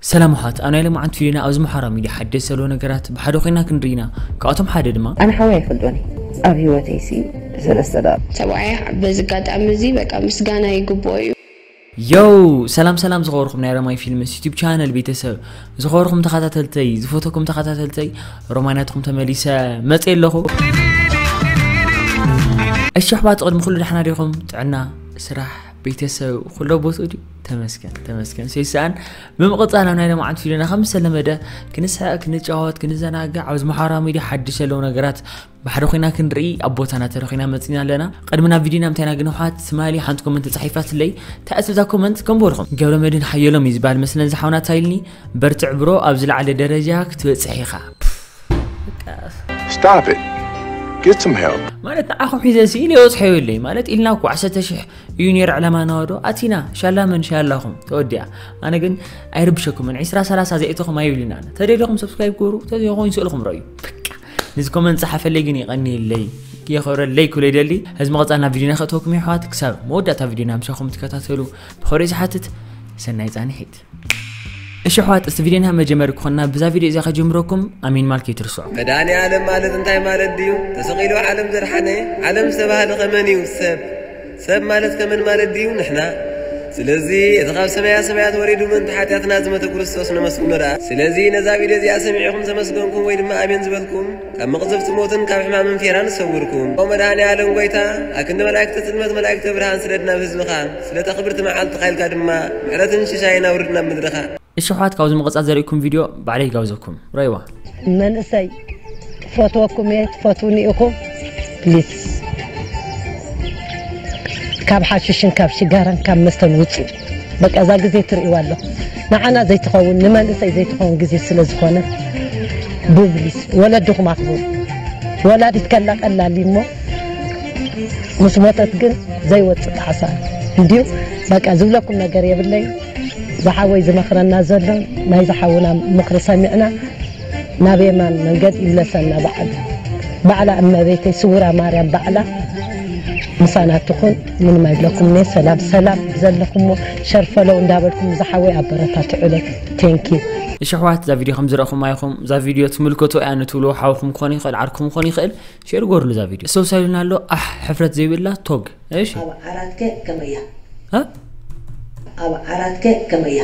ሰላም ኣሓት ኣብ ናይ ሎምዓንቲ ቪድዮና ኣብዚ ምሓራ ሚድያ ሓደስቲ ዘለዉ ነገራት ብሓደ ኮይና ክንርኢ ኢና ካብኣቶም ሓደ ድማ ኣነ ሓወይ ኣይፈልጦን እየ ኣብ ሂወተይ ሲ ሰለስተ ደቒቕ። ሰብኣያ በዚ ኣጋጣሚ እዚ በቃ ምስጋና ይግብኦ እዩ። Yow ሰላም ሰላም ዝኸበርኩም ናይ ረማይ ፊልምስ ዩቲብ ቻነል ቤተሰብ ዝኸበርኩም ተኸታተልተይ ዝፈተኩም ተኸታተልተይ ሮማይ ናትኩም ተመሊሰ መጽየ ኣለኹ እሺ ኣሕዋት ቅድሚ ኩሉ ዳሕና ዲኹም ጥዕና ስራሕ ቤተሰብ ኩሎ ቦትኡ ድዩ ተመስገን ተመስገን ሰይስኣን ብምቕፃል ኣብ ናይ ለማዓንቲ ቪድዮና ከም ዝተለመደ ክንስሐ ክንጫወት ክንዘናግዕ ኣብ ዝመሓራ ሚድያ ሓድሽ ዘለዉ ነገራት ባሕሪ ኮይና ክንርኢ ኣብ ቦታና ተረኺና መፅና ኣለና ቅድሚ ናብ ቪድዮና ምታይና ግን ውሓት ትማሊ ሓንቲ ኮመንት ተፃሒፋ ስለይ ተኣስብዛ ኮመንት ከምበልኹም ገብረ መድን ሓየሎም እዩ ዝበሃል መስለን ዝሓውና ታይልኒ በርትዕ ብሮ ኣብ ዝለዓለ ደረጃ ክትበፅሕ ኢኻ Stop it. Get some help. ማለት ንዓኹም ሒዘ ስኢል የወፅሐ የብለይ ማለት ኢልና እኮ ዓሰርተ ሽሕ እዩ ነይሩ ዕላማና ዶ ኣቲና ሻላ መን ሻላኹም ተወዲኣ ኣነ ግን ኣይርብሸኩምን ዒስራ ሰላሳ ዘእትኹም ኣይብልና ተደለኹም ሰብስክራይብ ገሩ ተዘይኮይኑ ስእልኹም ረዩ በቃ ነዚ ኮመንት ፀሓፈለይ ግን ይቐኒየለይ የኸብረለይ ክብለ ይደሊ እዚ መቐፃል ናብ ቪድዮና ከእተወኩም የሕዋት ክሳብ መወዳእታ ቪድዮና ምሳኹም ትከታተሉ ብኸሪኡ ዝሓትት ሰናይ ፃንሒት እሺ ኣሕዋት እስቲ ቪድዮ ንሃብ መጀመሪ ክኾንና ብዛ ቪድዮ እዚኣ ከጀምረኩም ኣሜን ማል ከይትርስዑ መድኃኔ ዓለም ማለት እንታይ ማለት ድዩ? ተሰቒሉ ዓለም ዘድሓነ ዓለም ዝተባህለ ኸመን እዩ? ሰብ ሰብ ማለት ከመን ማለት ድዩ? ንሕና ስለዚ እቲ ካብ ሰማያ ሰማያት ወሪዱ ምእንቲ ሓጢኣትና ዝመተ ክርስቶስ ነመስግኖ ደኣ። ስለዚ ነዛ ቪድዮ እዚኣ ሰሚዕኹም ዘመስገንኩም ወይ ድማ ኣሜን ዝበልኩም ካብ መቕዘፍቲ ሞትን ካብ ሕማምን ፌራን ሰውርኩም። ኦ መድሃኔኣለም ጎይታ ኣክንዲ መላእክተ ጽልመት መላእክተ ብርሃን ስደድ ናብ ህዝብኻ ስለታ ክብርቲ መዓልትኻ ኢልካ ድማ ምሕረትን ሽሻይን ኣውርድ ናብ ምድርኻ። እሺ ኣሕዋት ካብዚ ምቅጻል ዘርእኩም ቪድዮ ባዕለይ ይጋብዘኩም ረእይዋ። መንእሰይ ክፈትወኩም እየ ትፈትዉኒ ኢኹም please ካብ ሓሽሽን ካብ ሽጋራን ካብ መስተን ውጹ። በቃ እዛ ግዜ ትርእይዋ ኣለኹም ንዓና ዘይትኸውን ንመንእሰይ ዘይትኸውን ግዜ ስለ ዝኾነት ብብሊስ ወለድኹም ኣኽብሩ። ወላዲት ከላ ቀላል እዩ እሞ ምስ ሞተት ግን ዘይወፅእ ጣዕሳ እንድዩ። በቃ ዝብለኩም ነገር የብለይን። ዝሓወይ ዝመኽረና ዘሎ ናይዚ ሓውና ምኽሪ ሰሚዕና ናብ የማን መንገድ ይምለሰና በዓል ባዕላ እመቤተይ ስውራ ማርያም ባዕላ ምሳና ትኹን ምንም ኣይብለኩም እኔ ሰላም ሰላም ዘለኹሞ ሸር ፈለው እንዳበልኩም ዝሓወይ ኣበረታትዑለይ ቴንኪዩ እሺ ኣሕዋት እዛ ቪድዮ ከም ዝረእኹማ ኢኹም እዛ ቪድዮ ትምልከቶ እያ ንትብልዎ ሓውኩም ክኾን ይኽእል ዓርኩም ክኾን ይኽእል ሼር ጎርሉ እዛ ቪድዮ ሰብሳይ ኢሉና ኣሎ ኣሕ ሕፍረት ዘይብላ ቶግ እሺ ኣብ ዓራትከ ከመይ እያ ኣብ ዓራትከ ከመይ እያ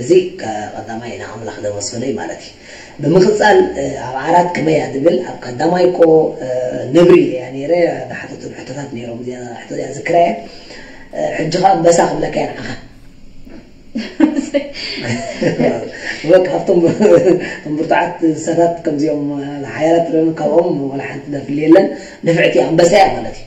እዚ ቀዳማይ ንኣምላኽ ዘመስግኖ እዩ ማለት እዩ። ብምክጻል ኣብ ዓራት ክመይ እያ ዝብል ኣብ ቀዳማይ እኮ ነብሪ እያ ነይረ ዝሓተቶም ሕቶታት ነይሮም እዚኣ ሕቶ እዚኣ ዝክራ እየ ሕጂ ከኣ ኣንበሳ ክብለካ እየ ንዓኻ ካብቶም እቶም ብርቱዓት እንስሳታት ከምዚኦም ሓያላት ካብኦም ወላ ሓንቲ ዘፍሊ የለን ንፍዕቲ ኣንበሳ እያ ማለት እዩ።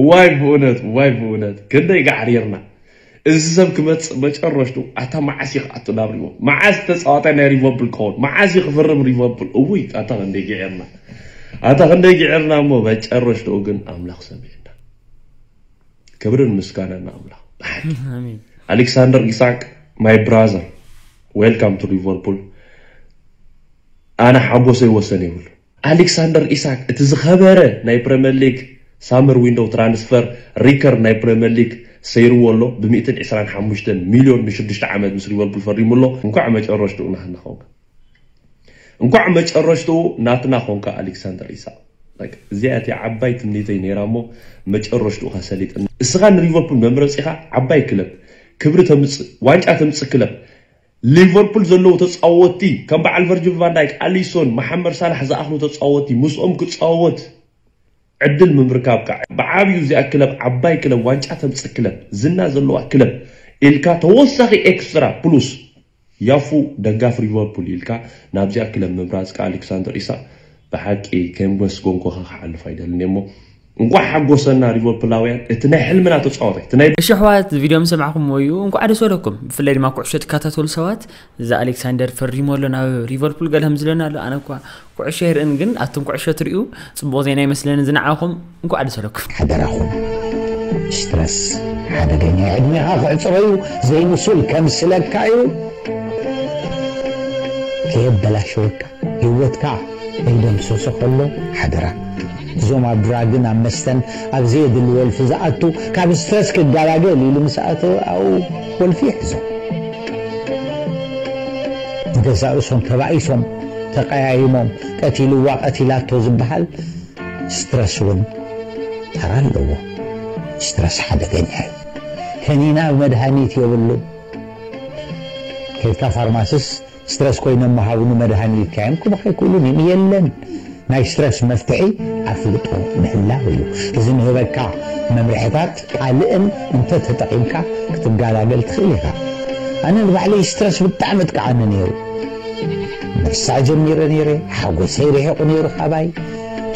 እዋይ ብኡነት እዋይ ብኡነት ክንደይ ጋዕሪርና እዚ ሰብ ክመጽእ መጨረሽቱ ኣታ መዓስ እዩ ክኣቱ ናብ ሪቮ መዓስ ዝተጻወተ ናይ ሪቮብል ክኸውን መዓስ እዩ ክፍርም ሪቮብል እውይ ኣታ ክንደይ ግዒርና ኣታ ክንደይ ግዒርና እሞ መጨረሽትኡ ግን ኣምላኽ ሰሚዕና ክብርን ምስጋናን ኣምላኽ ብሓቂ ኣሌክሳንደር ኢሳቅ ማይ ብራዘር ዌልካም ቱ ሊቨርፑል ኣነ ሓጎሰይ ወሰን የብሉ ኣሌክሳንደር ኢሳክ እቲ ዝኸበረ ናይ ፕረምየር ሊግ ሳመር ዊንዶው ትራንስፈር ሪከርድ ናይ ፕረምየር ሊግ ሰይርዎ ኣሎ ብ ሚእትን ዕስራን ሓሙሽተን ሚልዮን ን ሽዱሽተ ዓመት ምስ ሊቨርፑል ፈሪሙ ኣሎ እንኳዕ መጨረሽትኡ ናህና ኾንካ እንኳዕ መጨረሽትኡ ናትና ኾንካ ኣሌክሳንደር ኢሳቅ በቃ እዚኣ እቲኣ ዓባይ ትምኒተይ ነይራ እሞ መጨረሽትኡኻ ሰሊጥኒ እስኻ ንሊቨርፑል መምረፂኻ ዓባይ ክለብ ክብሪ ተምፅእ ዋንጫ ተምፅእ ክለብ ሊቨርፑል ዘለዉ ተጻወትቲ ከም በዓል ቨርጅል ቫን ዳይክ፣ ኣሊሶን፣ መሓመድ ሳላሕ ዝኣኽሉ ተጻወትቲ ምስኦም ክጻወት ዕድል ምምርካብካ ብዓቢኡ እዚኣ ክለብ ዓባይ ክለብ ዋንጫ ተምጽእ ክለብ ዝና ዘለዋ ክለብ ኢልካ ተወሳኺ ኤክስትራ ፕሉስ ያፉ ደጋፊ ሊቨርፑል ኢልካ ናብዚኣ ክለብ ምምራጽካ ኣሌክሳንደር ኢሳቕ ብሓቂ ከየምገስጎንኩኻ ክሓልፍ ኣይደልን'የ እሞ እንኳዕ ሓጎሰና ሊቨርፑላውያን እቲ ናይ ሕልምና ተፃዋታይ እቲ ናይ እሺ ኣሕዋት እዚ ቪድዮ ምስ ሰማዕኩምዎ እዩ እንኳዕ ደስ በለኩም ብፍላይ ድማ ኩዕሾ ትከታተሉ ሰባት እዚ ኣሌክሳንደር ፈሪሙ ኣሎ ናብ ሊቨርፑል ገለ ከምዝለና ኣሎ ኣነ እኳ ኩዕሾ ኣይርእን ግን ኣቱም ኩዕሾ ትሪኡ ፅቡቕ ዜና ይመስለኒ እዚ ንዓኹም እንኳዕ ደስ በለኩም ሓደራኹም ስትረስ ሓደገኛ ዕድሜኻ ክዕፅሮ እዩ ዘይምሱል ከምስለካ እዩ ከየበላሸወካ ሂወትካ ከይደምሰሶ ከሎ ሓደራ እዞም ኣብ ድራግን ኣብ መስተን ኣብ ዘየድሊ ወልፊ ዝኣቱ ካብ ስትረስ ክጋላገል ኢሉ ምስ ኣተወ ኣብኡ ወልፊ ይሕዞ ንገዛእ ርእሶም ተባኢሶም ተቀያይሞም ቀቲልዋ ቀቲላቶ ዝብሃል ስትረስ ውን ተራ ኣለዎ ስትረስ ሓደገኛ እዩ ከኒና መድሃኒት የብሉን ከይድካ ፋርማስስ ስትረስ ኮይኖም ምሃብኑ መድሃኒ ይካየም ክብኽ ኣይክእሉን እዩም የለን ናይ ስትረስ መፍትሒ ኣፍልጦ ምህላው እዩ እዚ ንህበካ መምርሕታት ካልእን እንተ ተጠቂምካ ክትጋላገል ትኽእል ኢኻ ኣነ ንባዕለይ ስትረስ ብጣዕሚ እጥቃዓኒ ነይሩ ምርሳዕ ጀሚረ ነይረ ሓጎሰይ ርሒቑ ነይሩ ካባይ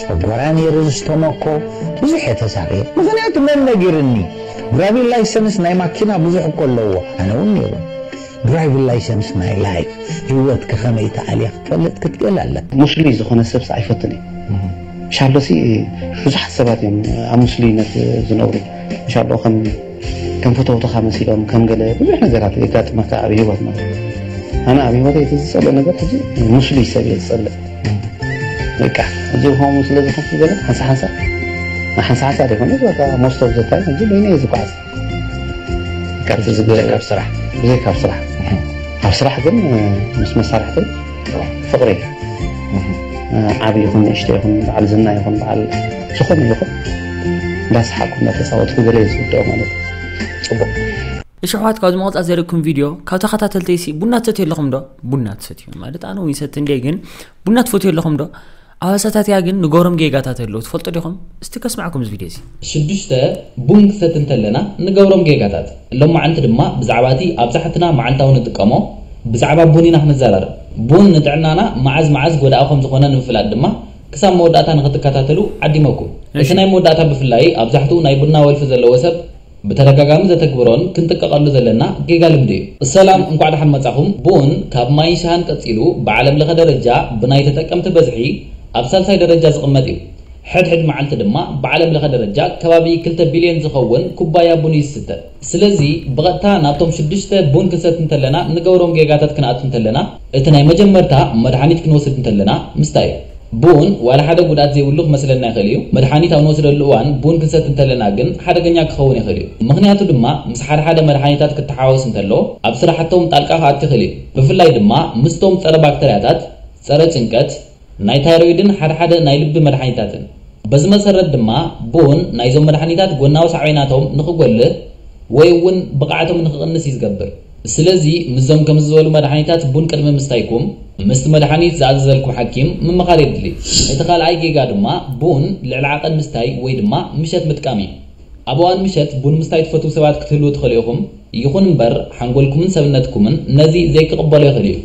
ጨጎራ ነይረ ዝስተመኮ ብዙሕ እየ ተሳቅየ ምኽንያቱ መን ነጊርኒ ድራቪን ላይሰንስ ናይ ማኪና ብዙሕ እኮ ኣለዎ ኣነ እውን ነይሩ Drivellicense My Life ህይወትኪ ከመይ ትኣልያ ክትፈልጥ ክትክእል ኣለካ። ሙስሉይ ዝኾነ ሰብሲ ኣይፈቱን እዩ ሻሎሲ ብዙሓት ሰባት እዮም ኣብ ሙስሉይነት ዝነብሩ ሻሎ ከም ፈተውትኻ መሲሎም ከም ገለ ብዙሕ ነገራት የጋጥመካ ኣብ ህይወት ማለት ኣነ ኣብ ህይወተይ እቲ ዝጸልኦ ነገር ሕጂ ሙስሉይ ሰብ እየ ዝጸልእ በቃ ሕጂ ከምኡ ስለ ዝኾንኩ ገለ ሓንሳ ሓንሳ ሓንሳ ሓንሳ ዘይኮነስ በቃ most of the time ሕጂ በይነይ እየ ዝጓዓዝ። ካብዚ ዝገርም ኣብ ስራሕ ብዘይ ካብ ስራሕ ኣብ ስራሕ ግን ምስ መሳርሕተይ ፍቕሪ ዓቢ ይኹን ንእሽተይ ይኹን በዓል ዝና ይኹን በዓል ዝኾነ ይኹን እንዳሰሓቅኩ እንዳተጻወትኩ ገለ ዝውድኦ ማለት ጽቡቅ እሺ ኣሕዋት ካብዚ መቐፃ ዘርእኩም ቪድዮ ካብ ተኸታተልተይሲ ቡና ትሰትዩ ኣለኹም ዶ ቡና ትሰትዩ ማለት ኣነ እውን ይሰቲ እንደ ግን ቡና ትፈትዩ ኣለኹም ዶ ኣባሳታትያ ግን ንገሮም ጌጋታት ኣለዉ ትፈልጡ ዲኹም እስቲ ከስማዕኩም እዚ ቪድዮ እዚ። ሽዱሽተ፣ ቡን ክሰቲ እንተለና ንገብሮም ጌጋታት። ሎማዓንቲ ድማ ብዛዕባ እቲ ኣብዛሕትና መዓልታዊ ንጥቀሞ ብዛዕባ ቡን ኢና ክንዛራረብ። ቡን ንጥዕናና መዓዝ መዓዝ ጎዳኢ ከምዝኾነ ንምፍላጥ ድማ ክሳብ መወዳእታ ንኽትከታተሉ ዓዲመኩም። እቲ ናይ መወዳእታ ብፍላይ ኣብዛሕትኡ ናይ ቡና ወልፊ ዘለዎ ሰብ ብተደጋጋሚ ዘተግብሮን ክንጥቀቐሉ ዘለና ጌጋ ልምዲ እዩ። ሰላም እንኳዕ ዳሓን መፃኹም ቡን ካብ ማይን ሻሃን ቀፂሉ ብዓለም ለኸ ደረጃ ብናይ ተጠቀምቲ በዝሒ ኣብ ሳልሳይ ደረጃ ዝቕመጥ እዩ ሕድ ሕድ መዓልቲ ድማ ብዓለም ለኸ ደረጃ ከባቢ ክልተ ቢልዮን ዝኸውን ኩባያ ቡን እዩ ዝስተ ስለዚ ብቐጥታ ናብቶም ሽዱሽተ ቡን ክንሰቲ እንተለና ንገብሮም ጌጋታት ክንኣቱ እንተለና እቲ ናይ መጀመርታ መድሓኒት ክንወስድ እንተለና ምስታይ እዩ። ቡን ዋላ ሓደ ጉድኣት ዘይብሉ ክመስለና ይኽእል እዩ፣ መድሓኒት ኣብ ንወስደሉ እዋን ቡን ክንሰቲ እንተለና ግን ሓደገኛ ክኸውን ይኽእል እዩ። ምኽንያቱ ድማ ምስ ሓደ ሓደ መድሓኒታት ክተሓዋወስ እንተሎ ኣብ ስራሕቶም ጣልቃ ክኣቱ ይኽእል እዩ። ብፍላይ ድማ ምስቶም ፀረ ባክተርያታት፣ ፀረ ጭንቀት፣ ናይ ታይሮይድን ሓድሓደ ናይ ልቢ መድሓኒታትን። በዚ መሰረት ድማ ቡን ናይዞም መድሓኒታት ጎናዊ ሳዕቤናቶም ንኽጎልህ ወይ እውን ብቕዓቶም ንኽቕንስ እዩ ዝገብር። ስለዚ ምስዞም ከምዚ ዝበሉ መድሓኒታት ቡን ቅድሚ ምስታይኩም ምስቲ መድሓኒት ዝኣዘዘልኩም ሓኪም ምምኻር የድሊ። እቲ ካልኣይ ጌጋ ድማ ቡን ልዕሊ ዓቐን ምስታይ ወይ ድማ ምሸት ምጥቃም እዩ። ኣብ እዋን ምሸት ቡን ምስታይ ትፈትዉ ሰባት ክትህልዉ ትኽእሉ ኢኹም። ይኹን እምበር ሓንጎልኩምን ሰብነትኩምን ነዚ ዘይክቕበሎ ይኽእል እዩ።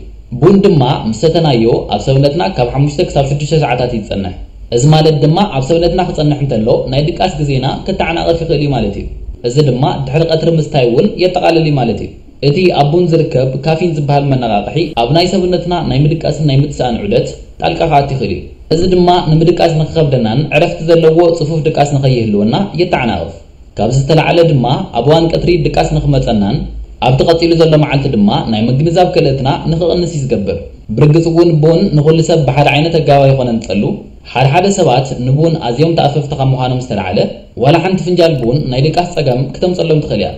ቡን ድማ ምስ ሰተናዮ ኣብ ሰብነትና ካብ ሓሙሽተ ክሳብ ሽዱሽተ ሰዓታት እዩ ዝጸንሕ። እዚ ማለት ድማ ኣብ ሰብነትና ክጸንሕ እንተሎ ናይ ድቃስ ግዜና ከተዓናቕፍ ይኽእል እዩ ማለት እዩ። እዚ ድማ ድሕሪ ቀትሪ ምስታይ እውን የጠቓልል እዩ ማለት እዩ። እቲ ኣብ ቡን ዝርከብ ካፊን ዝበሃል መነቓቕሒ ኣብ ናይ ሰብነትና ናይ ምድቃስን ናይ ምትሳእን ዑደት ጣልቃ ክኣቱ ይኽእል እዩ። እዚ ድማ ንምድቃስ ንክኸብደናን ዕረፍቲ ዘለዎ ጽፉፍ ድቃስ ንከይህልወና የተዓናቕፍ። ካብዚ ዝተላዕለ ድማ ኣብ እዋን ቀትሪ ድቃስ ንክመጸናን ኣብቲ ቀጺሉ ዘሎ መዓልቲ ድማ ናይ ምግንዛብ ክእለትና ንክቕንስ እዩ ዝገብር። ብርግጽ እውን ቡን ንኹሉ ሰብ ብሓደ ዓይነት ኣገባብ ኣይኾነን ዝጸሉ። ሓደ ሓደ ሰባት ንቡን ኣዝዮም ተኣፈፍቲ ካብ ምዃኖም ዝተላዕለ ዋላ ሓንቲ ፍንጃል ቡን ናይ ድቃስ ጸገም ክተምጸሎም ትኽእል እያ።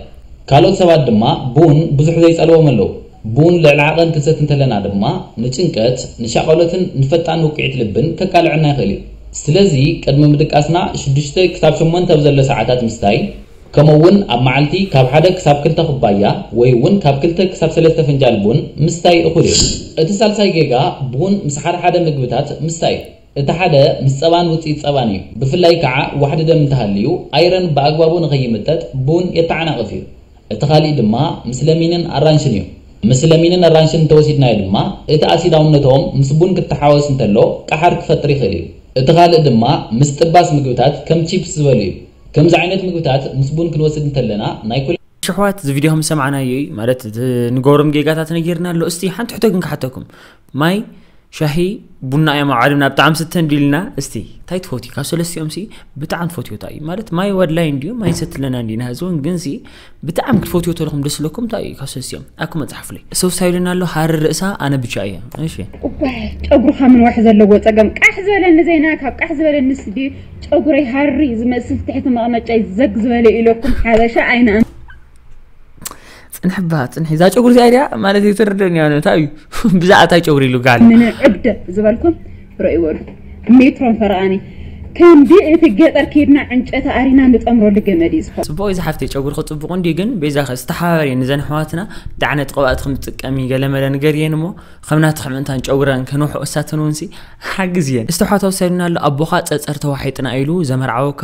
ካልኦት ሰባት ድማ ቡን ብዙሕ ዘይጸልዎም ኣለዉ። ቡን ልዕሊ ዓቐን ክንሰቲ እንተለና ድማ ንጭንቀት፣ ንሻቐሎትን ንፈጣን ውቅዒት ልብን ከቃልዐና ይኽእል እዩ። ስለዚ ቅድሚ ምድቃስና ሽዱሽተ ክሳብ ሸሞንተ ኣብ ዘሎ ሰዓታት ምስታይ፣ ከምኡ እውን ኣብ መዓልቲ ካብ ሓደ ክሳብ ክልተ ኩባያ ወይ እውን ካብ ክልተ ክሳብ ሰለስተ ፍንጃል ቡን ምስታይ እኹል እዩ። እቲ ሳልሳይ ጌጋ ቡን ምስ ሓደሓደ ምግብታት ምስታይ እዩ። እቲ ሓደ ምስ ጸባን ውጽኢት ጸባን እዩ። ብፍላይ ከኣ ዋሕዲ ደም እንተሃልዩ፣ ኣይረን ብኣግባቡ ንኸይምጠጥ ቡን የተዓናቕፍ እዩ። እቲ ካልእ ድማ ምስ ለሚንን ኣራንሽን እዩ። ምስ ለሚንን ኣራንሽን እንተወሲድናዮ ድማ እቲ ኣሲዳውነቶም ምስ ቡን ክተሓወስ እንተሎ ቀሓር ክፈጥር ይኽእል እዩ። እቲ ካልእ ድማ ምስ ጥባስ ምግብታት ከም ቺፕስ ዝበሉ እዩ። ከምዚ ዓይነት ምግብታት ምስ ቡን ክንወስድ እንተለና ናይ። ሽሕዋት እዚ ቪድዮ ከም ዝሰማዕናዮ እዩ ማለት እቲ ንገብሮም ጌጋታት ነጊርና ኣሎ እስቲ ሓንቲ ሕቶ ግን ክሓተኩም ማይ ሻሂ ቡና እዮም ዓለምና ብጣዕሚ ስተ እንዲልና እስቲ እንታይ ትፈትዩ ካብ ሰለስቲኦም ሲ ብጣዕሚ ትፈትዮ እንታይ እዩ ማለት ማይ ወድላይ እንዲዩ ማይ ሰትለና እንዲና ህዚ እውን ግን ሲ ብጣዕሚ ክትፈትዮ ተለኹም ደስ ለኩም እንታይ እዩ ካብ ሰለስቲኦም ኣኩ መፅሓፍለይ ሰው ስታይልና ኣሎ ሃሪ ርእሳ ኣነ ብቻ እየ እሺ ጨጉርኻ ምንዋሕ ዘለዎ ፀገም ቃሕ ዝበለኒ ዜና ካብ ቃሕ ዝበለኒ ስዲ ጨጉረይ ሃሪ ዝመስል ትሕቲ መቐመጫይ ዘግ ዝበለ ኢለኩም ሓበሻ ኣይነ ፅንሕ ባ ፅንሕ እዛ ጨጉሪ እዚኣ ድያ ማለት እዩ ትርድእን እያ እንታይ እዩ ብዛዕባ እንታይ ጨጉሪ ኢሉ ጋል ምንዕድ ዝበልኩም ርእይዎ ሜትሮን ፈረቓኒ ከምዲ እቲ ገጠር ከይድና ዕንጨቲ ኣሪና ንጠምረሉ ገመድ እዩ ዝኸውን ፅቡቅ እዩ ዝሓፍተይ ጨጉርኪ ፅቡቅ እንዲ ግን ቤዛ ከ ዝተሓባበር እየ ንዘን ኣሕዋትና እንታይ ዓይነት ቅብኣት ከም ዝጥቀሚ ገለመለ ንገርየን እሞ ከም ናትኺ ምእንታን ጨጉረን ከንውሑ እሳተን እውን ሲ ሓግዝየን እስተውሓት ወሰድና ኣሎ ኣቦኻ ፀፀር ተዋሒጥና ኢሉ ዘመርዓወካ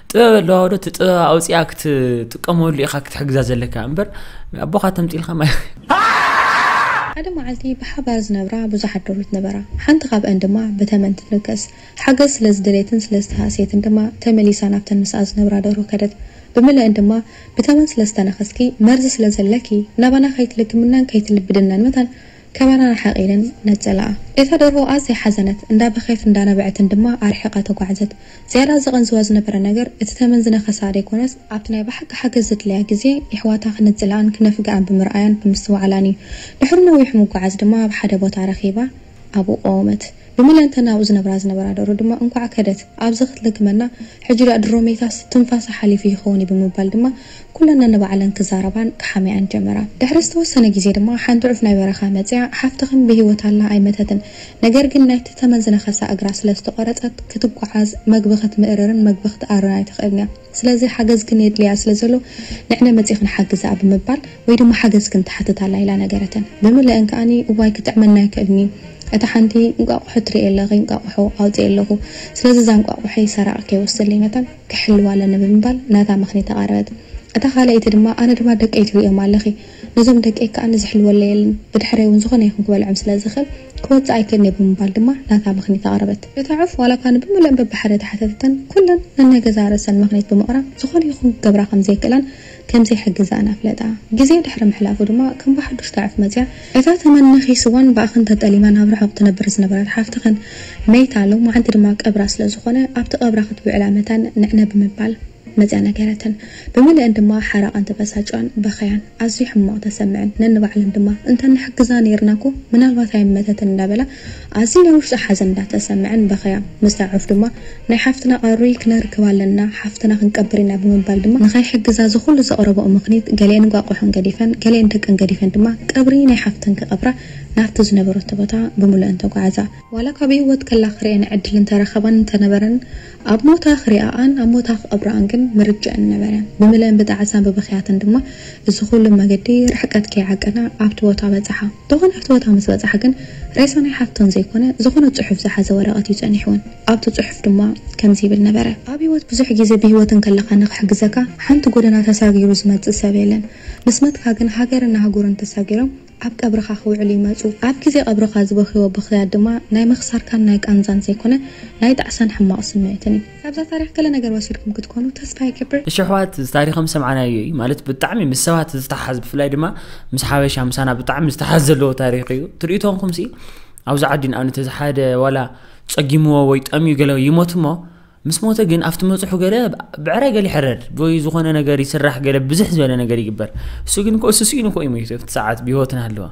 ጥበብ ኣለዋ ዶ እቲ ጥበብ ኣውፅኣ ክትጥቀመሉ ኢኻ ክትሕግዛ ዘለካ እምበር ኣቦኻ ተምፂልካ ሓደ መዓልቲ ብሓባር ዝነብራ ብዙሓት ዶሉት ነበራ። ሓንቲ ካብኣን ድማ ብተመን ትንከስ። ሓገዝ ስለ ዝደለየትን ስለ ዝተሃስየትን ድማ ተመሊሳ ናብተን ምስኣ ዝነብራ ደርሁ ከደት። ብምልእን ድማ ብተመን ስለ ዝተነኸስኪ መርዚ ስለ ዘለኪ ናባና ከይትልግምናን ከይትልብድናን መታን ካባና ርሓቒ ኢለን ነጸላኣ። እታ ደርሆ ኣዝያ ሓዘነት፣ እንዳ በኸየትን እንዳ ነበዐትን ድማ ኣርሒቓ ተጓዕዘት። ዝያዳ ዘቐንዝዋ ዝነበረ ነገር፣ እቲ ተመን ዝነኸሳ ደይኮነስ፣ ኣብቲ ናይ ብሓቂ ሓገዝ ዘድልያ ግዜ የሕዋታ ክነጽልኣን ክነፍግኣን ብምርኣያን ብምስትውዓላን እዩ። ድሕሪ ነዊሕ ምጉዓዝ ድማ ኣብ ሓደ ቦታ ረኺባ ኣብኡ ቆወመት። ብምለንተን ኣብኡ ዝነብራ ዝነበራ ደርሆ ድማ እንኳዕ ከደት፣ ኣብዚ ክትልግመና ሕጂ ድኣ ድሮ መይታስ ትንፋሳ ሓሊፉ ይኸውን እዩ ብምባል ድማ ኩለን ነንባዕለን ክዛረባን ክሓምያኣን ጀመራ። ድሕሪ ዝተወሰነ ግዜ ድማ ሓንቲ ዑፍ ናይ በረኻ መጺኣ ሓፍትኽን ብህይወት ኣላ ኣይመተትን ነገር ግን ናይቲ ተመን ዝነኸሳ እግራ ስለ ዝተቖረጸት ክትጓዓዝ መግቢ ክትምእርርን መግቢ ክትኣርን ኣይትኽእልን እያ ስለዚ ሓገዝክን የድልያ ስለ ዘሎ ንዕነ መጺኽን ሓግዝኣ ብምባል ወይ ድማ ሓገዝክን ትሓትት ኣላ ኢላ ነገረተን ብምልእን ከኣ እዋይ ክጥዕመኒ ኣይክእልን'ዩ እታ ሓንቲ እንቋቑሖ ትርእይ ኣለኺ እንቋቑሖ ኣውጺኤ ኣለኹ ስለዚ እዛ እንቋቑሖይ ሰራቒ ከይወስደለይ ነታ ክሕልዋ ኣለኒ ብምባል ናታ ምኽኒት ኣቐረበት። እታ ካልኣይቲ ድማ ኣነ ድማ ደቀይ ትርእዮም ኣለኺ፣ ነዞም ደቀይ ከኣ ንዝሕልወለይ የለን፣ ብድሕረይ እውን ዝኾነ ይኹን ክበልዖም ስለ ዝኽእል ክወጽእ ኣይክእልን'የ ብምባል ድማ ናታ ምኽኒት ኣቐረበት። እታ ዑፍ ዋላ እኳ ንብምልእን በብሓደ ተሓተተተን፣ ኩለን ነናይ ገዛእ ርእሰን ምኽኒት ብምቕራብ ዝኾነ ይኹን ክገብራ ከም ዘይክእላን፣ ከም ዘይሕግዛ'ን ኣፍለጣ። ግዜ ድሕሪ ምሕላፉ ድማ ከም ብሓዱሽ ተዕፍ መጺኣ እታ ተመን ነኺስዋን ብኣኽን ተጠሊማን ኣብ ርሑቕ ትነብር ዝነበረት ሓፍትኽን መይታ ሎማዓንቲ ድማ ቀብራ ስለ ዝኾነ ኣብቲ ቀብራ ክትውዕላ መታን ንዕነ ብምባል መጺኣ ነገረተን። ብምልእን ድማ ሓራቐን ተበሳጭዋን በኸያን ኣዝዩ ሕማቕ ተሰምዐን ነንባዕለን ድማ እንተ ንሕግዛ ኔርና'ኮ ምናልባት ኣይመተትን እንዳበላ ኣዚ ናይ ውሽጢ ሓዘን እንዳ ተሰመዐን በኸያ ምስ ተዓርፍ ድማ ናይ ሓፍትና ቀሪ ክነርክብ ኣለና ሓፍትና ክንቀብር ኢና ብምባል ድማ ንኸይሕግዛ ዝኹሉ ዘቕረበኦ ምኽኒት ገሊኤን እንቋቆሖን ገዲፈን ገሊኤን ደቀን ገዲፈን ድማ ቀብሪ ናይ ሓፍተን ክቐብራ ናብቲ ዝነበረቶ ቦታ ብምሉኤን ተጓዕዛ። ዋላ ካብ ብሂወት ከላ ክርእየን ዕድል እንተረኸባን እንተነበረን ኣብ ሞታ ክሪኣኣን ኣብ ሞታ ክቐብራኣን ግን ምርጭኤን ምነበረን። ብምልኤን ብጣዕሳን ብብኽያትን ድማ እዚ ኩሉ መገዲ ርሕቀት ከይዓቀና ኣብቲ ቦታ በጽሓ። ደኾን ኣብቲ ቦታ ምስ በጽሓ ግን ሬሳ ናይ ሓፍተን ዘይኮነ ዝኾነ ጽሑፍ ዝሓዘ ወረቐት እዩ ጸኒሕወን። ኣብቲ ጽሑፍ ድማ ከምዚ ይብል ነበረ። ኣብ ህይወት ብዙሕ ግዜ ብህይወት እንከለኻ ንኽሕግዘካ ሓንቲ ጎደና ተሳጊሩ ዝመጽእ ሰብ የለን። ምስ መትካ ግን ሃገርን ኣህጉርን ተሳጊሮም ኣብ ቀብርኻ ክውዕሉ ይመጹ። ኣብ ግዜ ቀብርኻ ዝበኽይዎ ብኽያት ድማ ናይ ምኽሳርካን ናይ ቃንዛን ዘይኮነ ናይ ጣዕሳን ሕማቕ ስምዒትን እዩ። ካብዛ ታሪኽ ገለ ነገር ወሲድኩም ክትኮኑ ተስፋ ይገብር። እሺ ኣሕዋት እዚ ታሪኽ ከም ሰምዓናዮ እዩ ማለት ብጣዕሚ ምስ ሰባት ዝተሓሓዝ ብፍላይ ድማ ምስ ሓበሻ ምሳና ብጣዕሚ ዝተሓዝ ዘለዎ ታሪኽ እዩ ትርኢቶንኩም ሲ ኣብዚ ዓዲ ንኣብነት እዚ ሓደ ዋላ ጸጊምዎ ወይ ጠምዩ ገለ ይሞት እሞ ምስ ሞተ ግን ኣብቲ መጽሑ ገለ ብዕራይ ገለ ይሕረድ ወይ ዝኾነ ነገር ይስራሕ ገለ ብዝሕ ዝበለ ነገር ይግበር እሱ ግን ኮ እሱ ስኢኑ ኮ ይሞይቱ ኣብቲ ሰዓት ብሂወት ናሃለወ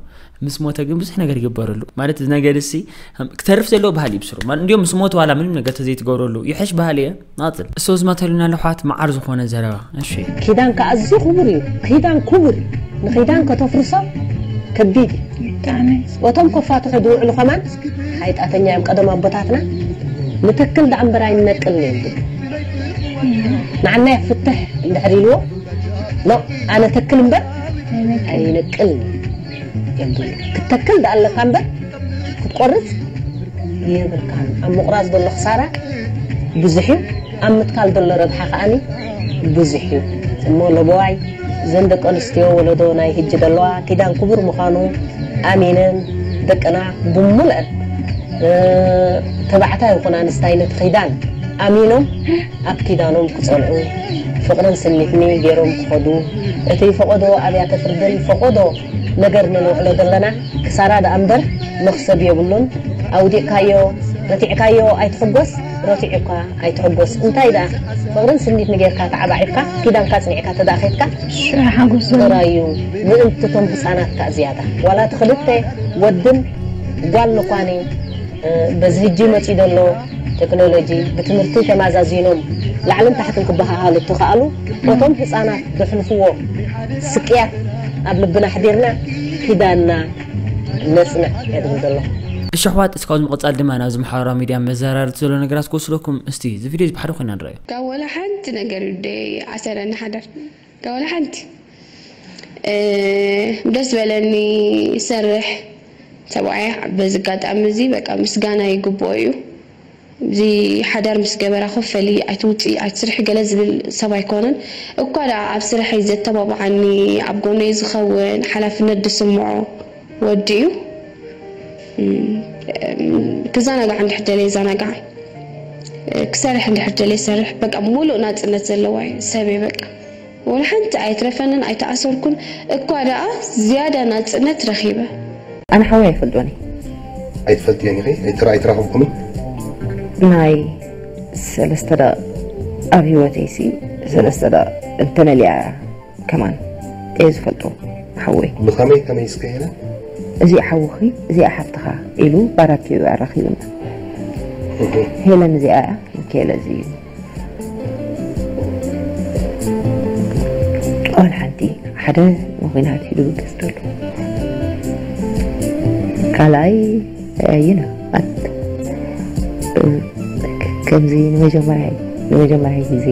ምስ ሞተ ግን ብዙሕ ነገር ይግበረሉ ማለት ነገርሲ ክተርፍ ዘለዎ ባህሊ ይብስሩ ማለት እንዲም ምስ ሞት ዋላ ምንም ነገር ተዘይትገብረሉ ይሐሽ ባህሊ እየ ናፅል እሶ ዝመተሉና ለሕዋት መዓር ዝኾነ ዘረባ እሺ ኪዳን ከዓ ኣዝዩ ክቡር እዩ ኪዳን ክቡር እዩ ንኪዳን ከተፍርሶ ከቢድ እዩ ወቶም ኮፋትሑ ዝውዕሉ ከማን ሓይጣተኛ እዮም ቀደም ኣቦታትና ንተክል ዳኣ እምበር ኣይነቅልን እዮም ዝብሉ ንዓናይ ፍትሕ እንድሕር ኢልዎ ኖ ኣነ ተክል እምበር ኣይነቅልን እዮም ዝብሉ ክትተክል ደኣ ኣለካ እምበር ክትቆርፅ የብልካን ኣብ ምቑራፅ ዘሎ ክሳራ ብዙሕ እዩ ኣብ ምትካል ዘሎ ረብሓ ከዓኒ ብዙሕ እዩ እሞ ለበዋይ እዘን ደቂ ኣንስትዮ ወለዶ ናይ ህጂ ዘለዋ ኪዳን ክቡር ምዃኑ ኣሚነን ደቅና ብሙልአን ተባዕታይ ይኹን ኣንስታይ ነቲ ኪዳን ኣሚኖም ኣብ ኪዳኖም ክጸንዑ ፍቕርን ስኒትኒ ገይሮም ክኸዱ እቲ ፈቖዶ ኣብያተ ፍርድን ፈቖዶ ነገር ነንውዕሎ ዘለና ክሳራ ደኣ እምበር መኽሰብ የብሉን ኣውዲቕካዮ ረቲዕካዮ ኣይትሕጎስ ረቲዑካ ኣይትሕጎስ እንታይ ደኣ ፍቕርን ስኒትኒ ገይርካ ተዓባዒብካ ኪዳንካ ኣጽኒዕካ ተደኣ ከይድካ ሽዑ ሓጎስ ዘሎ። ጥራዩ ምእንቲ እቶም ህጻናት ከኣ ዝያዳ ዋላ እቲ ክልተ ወድን ጓል ንኳኒ በዚ ህጂ መጺኡ ደሎ ተክኖሎጂ ብትምህርቲ ተማዛዚኖም ላዕልን ታሕትን ክበሃሃሉ እተኻእሉ በቶም ህጻናት ዘሕልፍዎ ስቅያት ኣብ ልብና ኣሕዲርና ኪዳንና ነጽንዕ እየ ዝብል ዘለኹ። እሺ ኣሕዋት እስኪ ካብዚ ምቅጻል ድማ ናብዚ ማሕበራዊ ሚድያ መዘራረብቲ ዘሎ ነገራት ክወስደኩም እስቲ እዚ ቪድዮ እዚ ብሓደ ኮይና ንርኣዮ። ካብ ወላ ሓንቲ ነገር ደይ ኣሰረኒ ሓደር። ዋላ ሓንቲ ደስ በለኒ ሰርሕ ሰብኣያ በዚ ኣጋጣሚ እዚ በቃ ምስጋና ይግብኦ እዩ እዚ ሓዳር ምስ ገበራ ኮፈሊ ኣይትውፅኢ ኣይትስርሒ ገለ ዝብል ሰብ ኣይኮነን እኳ ደኣ ኣብ ስርሐይ ዘተባብዓኒ ኣብ ጎነይ ዝኸውን ሓላፍነት ዝስምዖ ወዲ እዩ ክዘናጋዕ እንድሕር ደልየ ይዘናጋዕ ክሰርሕ እንድሕር ደልየ ይሰርሕ በቃ ሙሉእ ናጽነት ዘለዋ እዩ ሰብ እየ በቃ ወላ ሓንቲ ኣይትረፈንን ኣይተኣሰርኩን እኳ ደኣ ዝያዳ ናጽነት ረኺበ ኣነ ሓወይ ኣይፈልጦን እየ። ኣይትፈልጥዮን ኢኺ ኣይተ ኣይተራኸብኩምን። ናይ ሰለስተ ደቕ ኣብ ሂወተይሲ ሰለስተ ደቕ እንተነሊያ እያ። ከማን እየ ዝፈልጦ ሓወይ። ንኸመይ ከመይ እስከ የለ። እዚኣ ሓውኺ እዚኣ ሓፍትኻ ኢሉ ባራኪኡ ኣራኺቡና። ሄለን እዚኣ እያ ንኬለ እዚ እዩ ኦል ሓንቲ ሓደ ንኹናት ኢሉ ገዝተሉ ካልኣይ you know ከምዚ ንመጀመርያ ንመጀመርያ ግዜ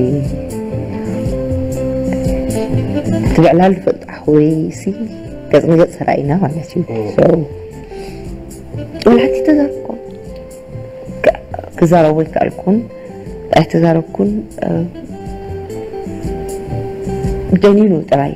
እቲ ብዕላሉ ፈልጡ ኣሕወይሲ ገፅ ንገፅ ተራእይና ማለት እዩ ወላቲ ተዛርብኮ ክዛረቡ ኣይከኣልኩን ኣይተዛረብኩን ደኒኑ ጥራይ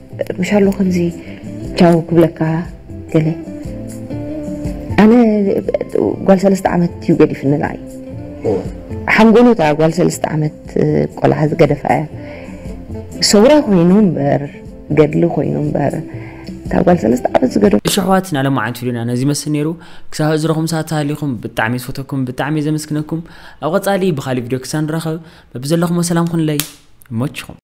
ምሻሉ ከምዚ ቻው ክብለካ ገለ ኣነ ጓል ሰለስተ ዓመት እዩ ገዲፍንላ እዩ ሓንጎሉ እታ ጓል ሰለስተ ዓመት ቆልዓ ዝገደፋ እያ ሰውራ ኮይኑ እምበር ገድሊ ኮይኑ እምበር እታ ጓል ሰለስተ ዓመት ዝገደፉ እሺ ኣሕዋት ናይ ሎማዓንቲ ቪድዮና ነዚ ይመስል ነይሩ ክሳብ እዝረኹም ሰዓት ተሃሊኹም ብጣዕሚ ዝፈተኩም ብጣዕሚ ዘመስግነኩም ኣብ ቐፃሊ ብኻሊእ ቪድዮ ክሳብ ንራኸብ በብዘለኹሞ ሰላም ኹንለይ ይመችኹም